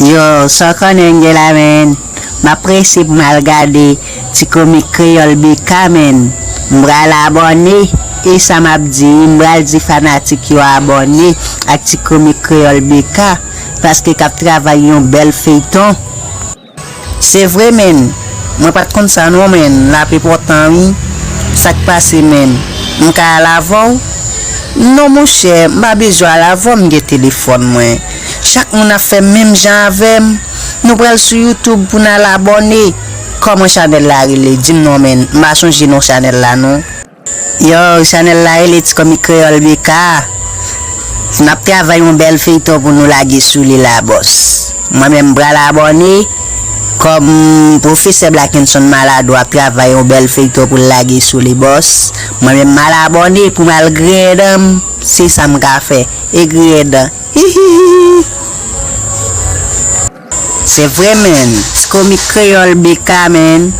Yow saw konnen Angel la menn? Map prese pou mal gade ti komik kreyòl BK menn m pral abòne e sa map di m pral di fanatik yo abòne ak ti komik kreyòl BK paske kap travay yon bèl feyton. Se vre menn Mwen pat konn sa non menn lap epotan wi Sak pase menn M ka al avèw Non monchè m pa bezwen al avèw m gen telefòn mwen Chak moun ap fè menm jan avèm Nou pral sou youtube pou nal abòne Kòman chanèl la rele dim non menn m pa sonje non chanèl la non. Yow chanel la rele ti komik kreyol BK map travay yon bel feyton pou nou lage sou li la bos mwen menm mpral abone kom profesè blakenson maladwa ap travay yon bel feyton poul lage sou li bos mwen menm mal abone poum al griyen danm se sam ka fè e griyen dan hihihihi. Se vre menn, tkomik kreyol BK menn,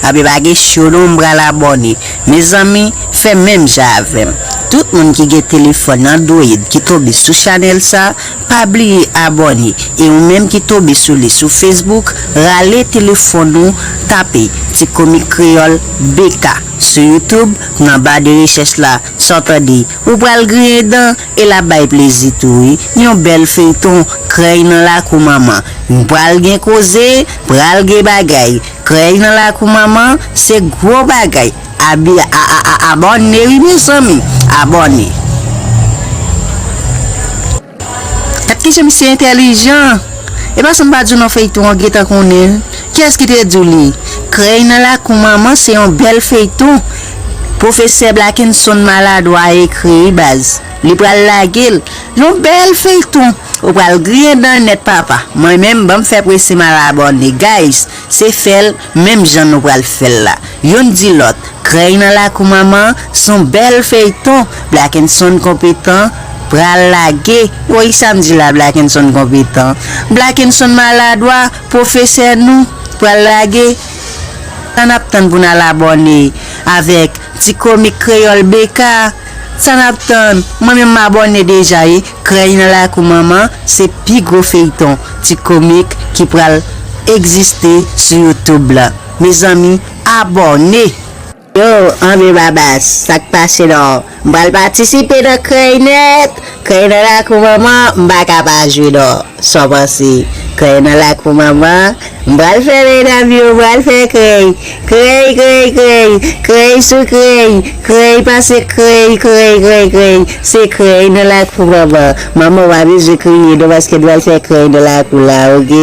ap e pa gen show non m pral abòne, mezanmi fè menm jan avèm, tout moun ki gen telefòn android ki tonbe sou chanèl sa pa bliye abòne e ou menm ki tonbe sou li sou facebook rale telefòn ou tape tkomik kreyol BK sou youtube nan ba de rechèch la sa w tande ou pral griyen dan E lap bay plezi tou wi. Yon bèl feyton krèy nan lakou manman yn pral gen koze pral gen bagay krèy nan lakou manman se gro bagay abi aabòne wi mezanmi abòne. Gad kijan misye entèlijan! Epa sam pa diw non feyton an gentan konnenl. Kiyès ki te diw li krèy nan lakou manman se yon bèl feyton profesè blakenson maladwa ekri wi baz li pral lagel yon bèl feyton ou pral griyen dan nèt papa mwen menm banm fè prese mal abòne guys se fèl menm jan nou pral fèl la youn di lòt krèy nan lakou manman son bèl feyton blakenson konpetan pral lage woy sam di la blakenson konpetan blakenson maladwa Profesè nou pral lage sa nap tann pou n al abòne avèk ti komik kreyòl BK sa nap tann mwen menm m abòne deja wi krèy nan lakou manman se pi gwo feyton ti komik ki pral egziste sou youtube la mezanmi abòne. Yo, anvi babas, sak pase non? M pral patisipe nan krèy nèt, krèy nan lakou manman, m pa ka pa jwe non, sa w panse? Krèy nan lakou manman, m pral fè medam yo, m pral fè krèy, krèy krèy krèy, krèy sou krèy, krèy pase krèy, krèy krèy krèy, se krèy nan lakou manman, manman w pa bezwen kriye non paske n pral fè krèy nan lakou la ok.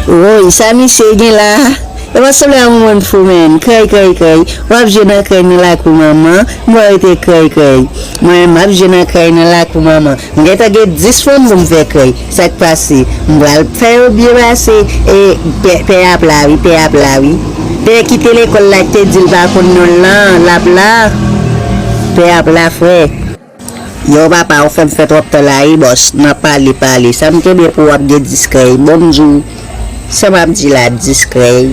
Woyy sa misye gen la e pa sanble a yon moun fou menn krèy krèy krèy wap jwe nan krèy nan lakou manman mwen rete krèy krèy mwen menm map jwe nan krèy nan lakou manman mwen gentan gen 10 fanm poum fè krèy sak pase m pral fè yo byen pase e pè a ap la wi pè ap la wi pè ki te lekòl la ki te dil pa konn nonl lan lap la pè ap la frè. Yow papa ou fèm fè tròp tan la ui bòs nan pale pale sa m tnde pou wap gen 10 krèy bon m diw sa map di la 10 krèy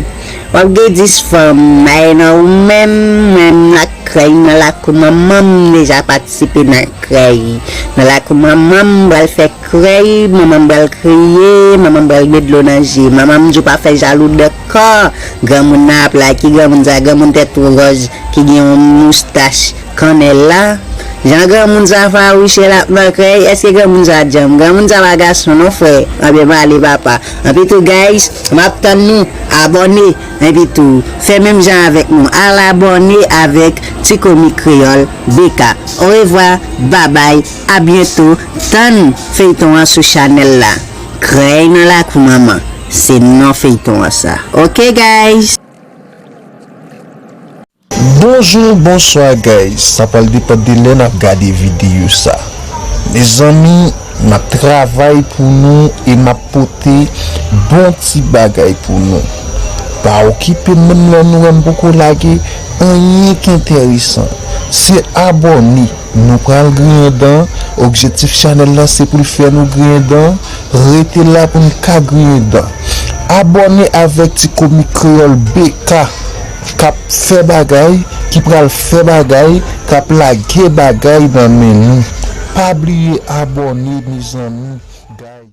wap gen 10 fanm maye nan ou menm mwen m nan krèy nan lakou manman m deja patisipe nan krèy nan lakou manman m pral fè krèy manman m pral kriye manman m pral met dlo nan je manman m diw pa fè jalou de Kò granmoun nan ap la ki granmoun sa granmoun tèt two gòj ki gen yon moustach kannèl la jan granmoun sa fawouchè lap nan krèy eske granmoun sa djanm granmoun sa pa gason non frè anbyen pale papa anpi tou guys map tann nou abòne enpi tou fè menm jan avèk nou al abòne avèk ti komik kreyòl BK orevwa babay abyento tann feyton an sou chanèl la. Krèy nan lakou manman se non feyton an sa ok guys. Bonjour bonswa guys sa pral depan de lè nap gade video sa mezanmi map travay pou nou e map pote bon ti bagay pou nou pa okipem menm lè nou wèm poko lage anyen k enteresan se abòne Nou pral griyen dan, objektif chanèl la se poul fè nou griyen dan, rete la pou n ka griyen dan. Abòne avèk ti komik kreyòl BK kap fè bagay, ki pral fè bagay, kap lage bagay nan men nou. Pa bliye abòne mezanmi guys.